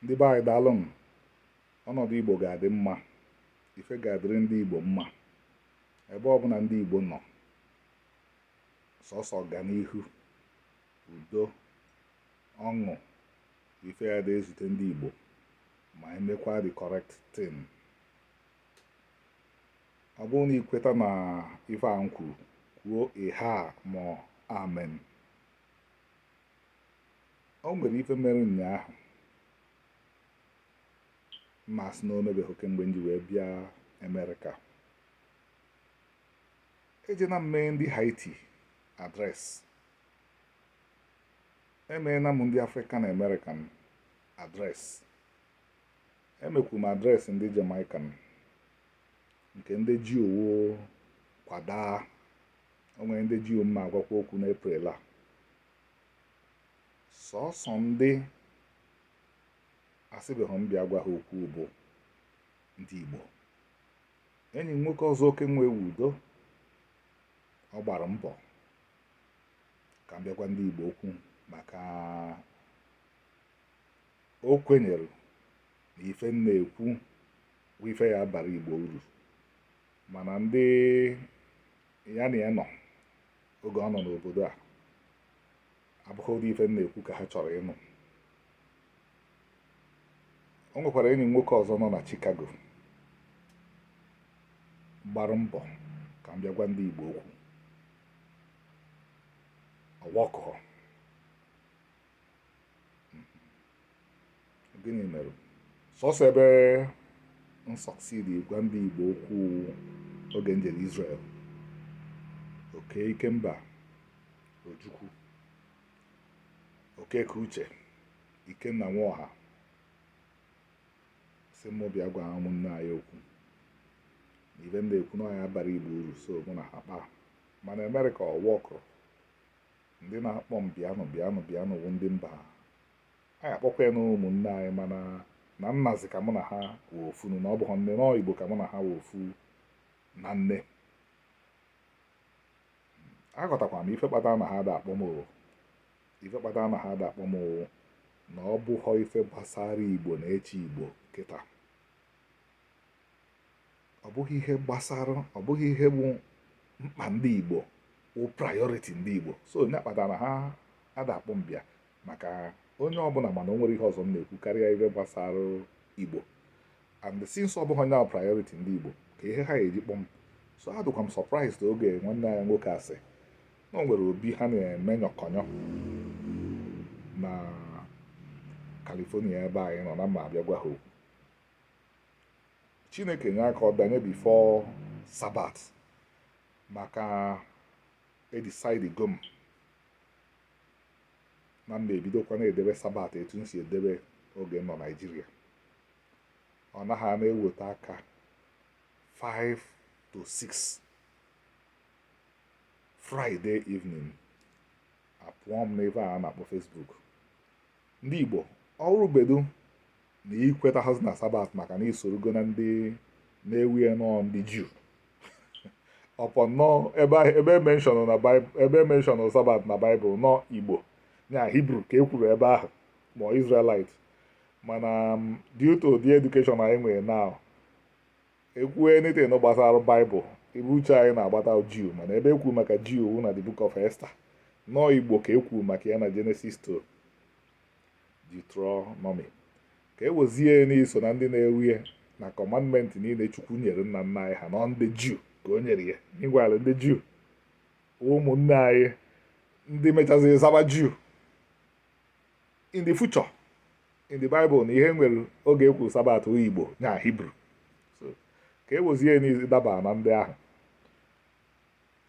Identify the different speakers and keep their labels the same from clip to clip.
Speaker 1: ndị be anyị daalụnụ ọnọdụ igbo ga-adị mma ife ga-adịrị ndị igbo mma ebe ọbụla ndị igbo nọ sọsọ ọganihu udo ọṅụ ife ya-adị ezute ndị igbo ma emekwa the correct thing ọ bụrụ na ikweta na ife a m kwuru kwuo ihaa ma ọ bụ amen o nwere ife mere ụnyaahụ m na-asị na o mebeghị kemgbe m ji wee bịa Amerịka ejeena m mee ndị Haiti address emeena m ndị African American address emekwu m address ndị Jamaican nke ndị Juu wụ kwadaa O nwere ndị Juu m ma-agwakwa okwu n'Eprel a sọsọ ndị asịbeghị m bịa gwa ha okwu bụ ndị Igbo enyi m nwoke ọzọ oke nwe ewu udo ọ gbara mbọ ka m bịa gwa ndị Igbo okwu maka o kwenyere na ife m na-ekwu bụ ife ya-abara Igbo uru mana ndị ya na ya nọ oge ọ nọ n'obodo a abụghị ụdị ife m na-ekwu ka ha chọrọ ịnụ o nwekwara enyi m nwoke ọzọ nọ na Chicago gbara mbọ ka m bịa gwa ndị Igbo okwu ọ workụhọ gịnị mere sọsọ ebe m succeed gwa ndị Igbo okwu oge m jere Israel oke ikemba Ojukwu Okeke Uche Ikenna Nwaọha sị mụ bịa gwa ụmụnne anyị okwu ife m na-ekwu na ya-abara Igbo uru so mụ na ha kpaa mana Amerịka ọ workụrọ ndị na-akpọ m bịanụ bịanụ bịanụ wụ ndị mba a akpọkwa ya na ụmụnne anyị mana na nna zi ka mụ na ha wụ ofu na ọ bụghị nne n'ọọ igbo ka mụ na ha wụ ofu na nne aghọtakwara m ife kpatara na ha da akpọ m ife kpatara na ha da akpọ m na ọ bụghọ ife gbasara igbo na-eche igbo kịta ọ bụghị ihe gbasara ọ bụghị ihe bụ mkpa ndị Igbo wụ priority ndị Igbo so ọ nya kpatara ha ada akpọ m bịa maka onye ọbụla ma na o nwere ihe ọzọ m na-ekwu karịa ihe gbasara Igbo and since ọ bụghị onye priority ndị Igbo ka ihe ha eji kpọ m so adụkwa m surprised oge nwanne anyị nwoke sị na o nwere obi ha na-eme nyọkọnyọ na California ebe anyị nọ na m ma-abịa gwa ha okwu chineke nye aka ọ danye before sabat maka edisaidigo m na m ma-ebidokwa na-edebe sabat etu m si edebe oge m nọ naijiria ọ naghị a na-eweta aka 5 to 6 friday evening apụọ m n'ebe a na-akpọ facebook ndị Igbo ọ wụrụbedu na i kwetaghị na sabat maka na i sorogo na ndị na-ewe ya na ọ ndị juu upon na ebe e mention na ebe e mention sabat na baịbụl na ọ igbo na hibru ka e kwuru ebe ahụ ma Israelite mana um, due to the education anyị nwere now e kwuo anything gbasara baịbụl ebe uche anyị na-agbata juu mana ebe e kwuu maka juu wụ na the book of Esther na ọ igbo ka e kwuu maka ya na Genesis to Deuteronomy ka e wezie na i so na ndị na-ewe ya na commandment niile chukwu nyere nna nna anyị ha na ọ ndị juu ka o nyere ya meanwhile ndị juu ụmụnne anyị ndị mechazi zaba juu in the future in the bible na ihe nwere oge e kwuru sabat ọ igbo na hibru so ka e wezie na ị daba na ndị ahụ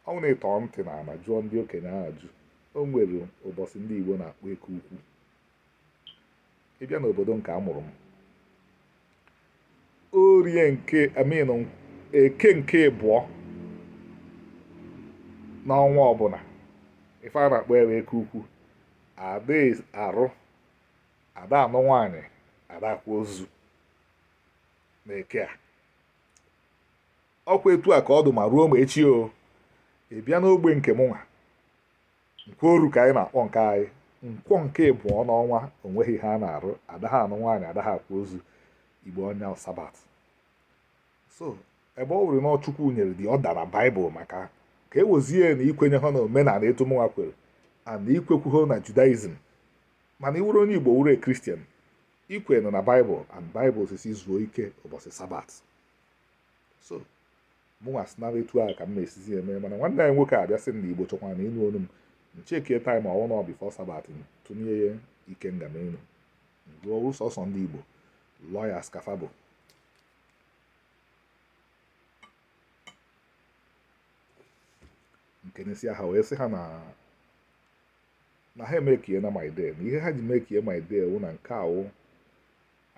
Speaker 1: ọ wụ na ị tọ ntị n'ala jụọ ndị okenye ajụjụ o nwere ụbọchị ndị igbo na-akpọ eke ukwu ị bịa n'obodo nke a mụrụ m orie nke I mean eke nke ịbụọ n'ọnwa ọbụla ife a na-akpọ ya wụ eke ukwu ada arụ ada anụ nwaanyị ada akwa ozu na eke a ọkwa etu a ka ọ dụ ma ruo ma echi o ị bịa n'ogbe nke mụnwa nkworu ka anyị na-akpọ nke anyị nkwọ nke ịbụọ n'ọnwa o nweghị ihe a na-arụ adaghị anụ nwaanyị adaghị akwa ozu igbo ọ nya sabat so ebe ọ wụrụ na ọ chukwu nyere the order na baịbụl maka ka e wezie na i kwenyeghị na omenala etu mụnwa kwere and i kwekwughị na judaism mana ị wụrụ onye igbo wụrụ kristian i kwenụ na baịbụl and baịbụl sị sị zuo ike ụbọchị sabat so mụnwa sị nara etu ahụ ka m na-esizi eme mana nwanne anyị nwoke abịa sị m na igbo chọkwara na ịnụ olu m m checkie time ọ wụ na ọ before sabbath tụnye ya ike nga m elu ruo sọsọ ndị igbo lawyers ka fa bụ nke n'isi aha wee sị ha na na ha emekiena my day na ihe ha ji mekie my day wụ na nke a wụ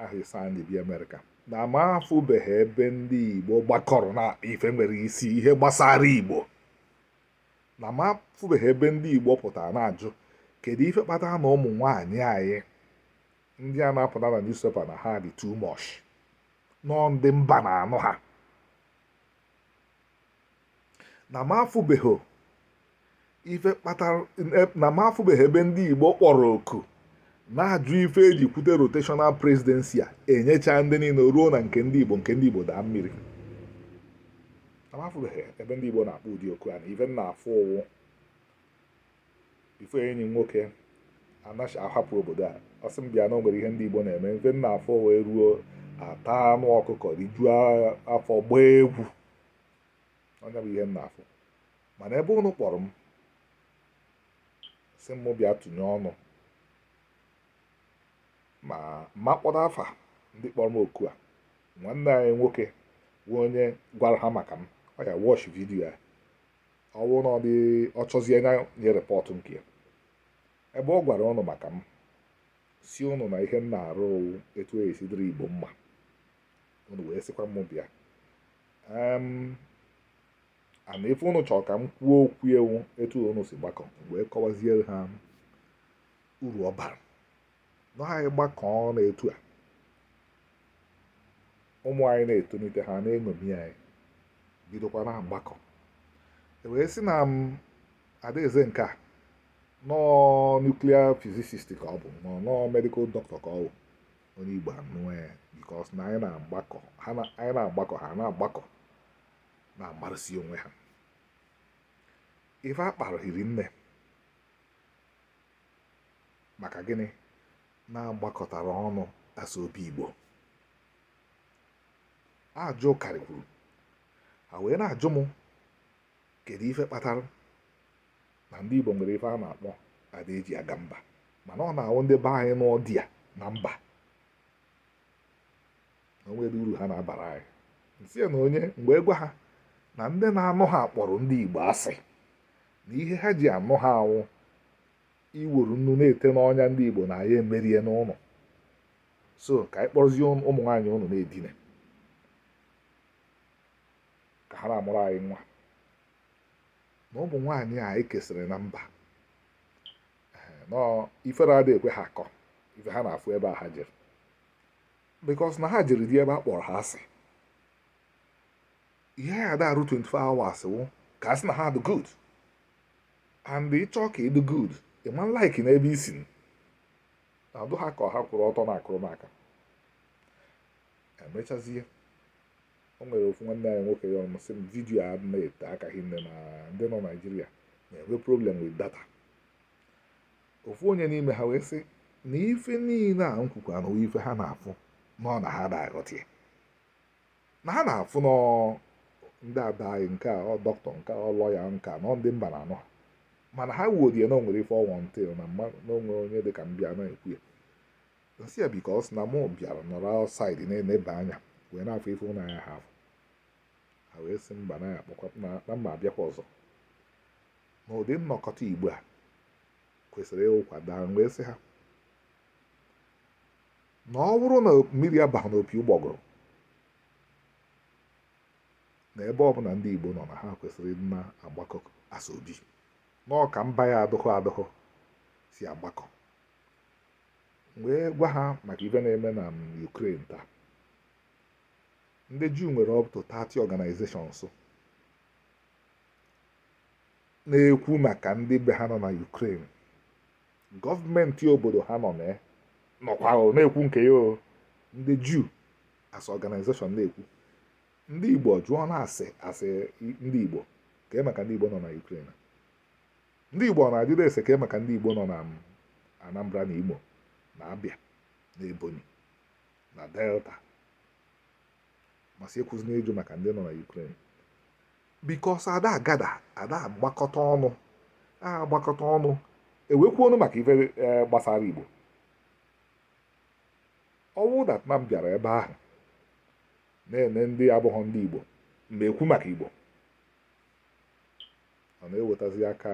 Speaker 1: aha ise anyị ji bịa Amerịka na m afụbeghị ebe ndị Igbo gbakọrọ na ife nwere isi ihe gbasara Igbo na m afụbeghị ebe ndị Igbo pụtara na-ajụ kedu ife kpatara na ụmụ nwaanyị anyị ndị a na-apụta na newspaper na ha dị too much na ọ ndị mba na-anụ ha na m afụbeghị ife kpatara na m afụbeghị ebe ndị Igbo kpọrọ oku na-ajụ ife e ji kwute rotational presidency a enyecha ndị niile ruo na nke ndị Igbo nke ndị Igbo daa mmiri na m afụbeghị ebe ndị Igbo na-akpọ ụdị oku a na ife m na-afụ wụ before enyi nwoke anaghị ahapụ obodo a ọ sị m bịa na o nwere ihe ndị Igbo na-eme ife m na-afụ wụ e ruo a taa anụ ọkụkọ rijuo afọ gbaa egwu ọ ya bụ ihe m na-afụ mana ebe ụnụ kpọrọ m sị m bịa tụnye ọnụ ma ma kpọrọ afa ndị kpọrọ m oku a nwanne anyị nwoke bụ onye gwara ha maka m ọ ya watch video a ọ bụrụ na ọ dị ọ chọzie anya nye report nke ya ebe ọ gwara ụnụ maka m sị ụnụ na ihe m na-arụ etu ọ ya-esi dịrị igbo mma unu wee sịkwa m bịa and ife unu chọrọ ka m kwuo okwu ya wụ etu unu si gbakọ wee kọwaziere ha uru ọ bara na anyị gbakọọ na etu a ụmụ anyị na-etonite ha na-eṅomi anyị bidokwa na-agbakọ wee sị na m adaeze nke a na ọ nuclear physicist ka ọ bụ na ọ medical doctor ka ọ bụ onye igbo anụọ ya because na anyị na-agbakọ ha anyị na-agbakọ ha na-agbakọ na-amarụsi onwe ha ife a kpara hiri nne maka gịnị na a gbakọtara ọnụ asa obi igbo ajụ karịkwuru ha wee na-ajụ m kedu ife kpatara na ndị Igbo nwere ife a na-akpọ ada eji aga mba mana ọ na-awụ ndị be anyị nụọ di ya na mba o nwere uru ha na-abara anyị m sị na onye m wee gwa ha na ndị na-anụ ha kpọrọ ndị Igbo asị na ihe ha ji anụ ha a wụ iworu nnu na-ete n'ọnya ndị Igbo na anyị emeriena ụnụ so ka anyị kpọrọzie ụmụ nwaanyị ụnụ na-edina ka ha na-amụrụ anyị nwa na ụmụ nwaanyị anyị kesịrị na mba ifere adịghị ekwe ha akọ ife ha na-afụ ebe a ha jere because na ha jere di ebe a kpọrọ ha asị ihe ya ada arụ 24 hours wụ ka a sị na ha dị good and ị chọọ ka ị dị good ị ma like n'ebe i si na-adụ ha ka ha kwụrụ ọtọ na a kụrụ m aka emechazie o nwere ofu nwanne anyị nwoke ya ọnụ sị m vidiyo a na-ete aka hinne na ndị nọ Naijiria na-enwe problem with data ofu onye n'ime ha wee sị na ife niile a m kwukwa na ife ha na-afụ nọ na ha na-aghọta ya na ha na-afụ nọ ndị ada anyị nke a ọ dọkịta nke ọ lọya nke a nọ ndị mba na-anụ ha mana ha wuodie na o nwere ife ọnwụ ntị na mma na o nwe onye dị ka m bịa na-ekwu ya m sị ya because na mụ bịara nọrọ outside na-eneba anya wee na-afụ ife ụnụ anaha afụ ha wee sị mba na ya akpọkwa na- na m ma-abịakwa ọzọ na ụdị nnọkọta Igbo a kwesịrị ịwụkwa daa m wee sị ha na ọ bụrụ na mmiri abaghị n'opi ụgbọgụrụ na ebe ọbụla ndị Igbo nọ na ha kwesịrị ịdị na-agbakọ asobi na ọka mba ya adụghọ adụghọ si agbakọ wee gwa ha maka ife na-eme na Ukraine taa ndị Juu nwere up to 30 organizations na-ekwu maka ndị be ha nọ na Ukraine gọọmenti obodo ha nọ na ya nọkwa o, na-ekwu nke ya o ndị Juu as organization na-ekwu ndị Igbo jụọ na a sị a sị ndị Igbo kee maka ndị Igbo nọ na Ukraine Ndị Igbo ọ na-ajụdị ese kee maka ndị Igbo nọ na Anambra na Imo na Abịa na Ebonyi na Delta ma sị ekwuzi na ịjụ maka ndị nọ na Ukraine because ada agada ada agbakọta ọnụ agbakọta ọnụ ewekọ ọnụ maka ife e, gbasara Igbo ọ wụ na m bịara ebe ahụ na-ene ndị abụghọ ndị Igbo m wee kwuo maka Igbo ọ na-ewetazi aka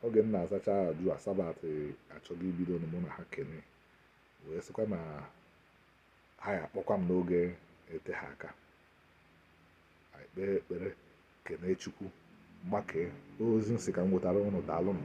Speaker 1: oge m na-azacha ajụ a sabat achọghị ibido mụ na ha kene wee sịkwa na ha ya akpọkwa m n'oge eteha aka anyị kpee ekpere kene chukwu maka ozi m sị ka m wetara ụnụ daalụ nụ